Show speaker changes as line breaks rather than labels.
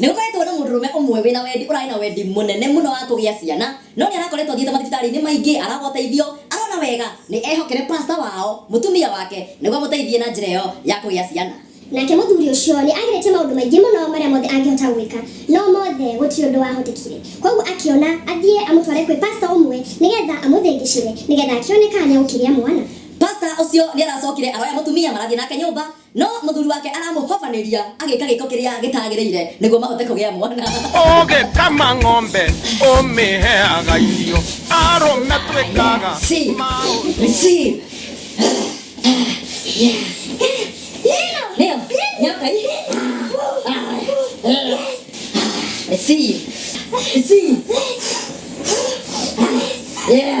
Nĩ gũkoretwo na mũndũrũme ũmwe wĩna wendi ũrarĩ na wendi mũnene mũno wa kũgĩa ciana no nĩ arakoretwo athiĩte mathibitarĩ-inĩ maingĩ aragwo ũteithio arona wega nĩ ehokere pastor wao mũtumia wake nĩguo amũteithie na njĩra ĩyo ya kũgĩa ciana. Nake mũthuri ũcio nĩ ageretie maũndũ maingĩ mũno marĩa mothe angĩhota gwĩka no mothe gũtirĩ ũndũ wahotekire kwoguo akĩona athiĩ amũtware kwĩ pastor ũmwe nĩ getha amũthĩngĩcĩre nĩ getha akĩone kana nĩ egũkĩgĩa mwana. Pastor ũcio nĩ aracokire aroya mũtumia marathiĩ nake nyũmba No mũthuri wake aramũhobanĩria agĩka gĩko kĩrĩa gĩtagĩrĩire nĩguo mahote kũgĩa mwana. ũgĩkama ng'ombe ũmĩheaga irio arũme twĩkaga See, maũndũ see. Nĩyo, nyoka ĩ. See, see. Yeah.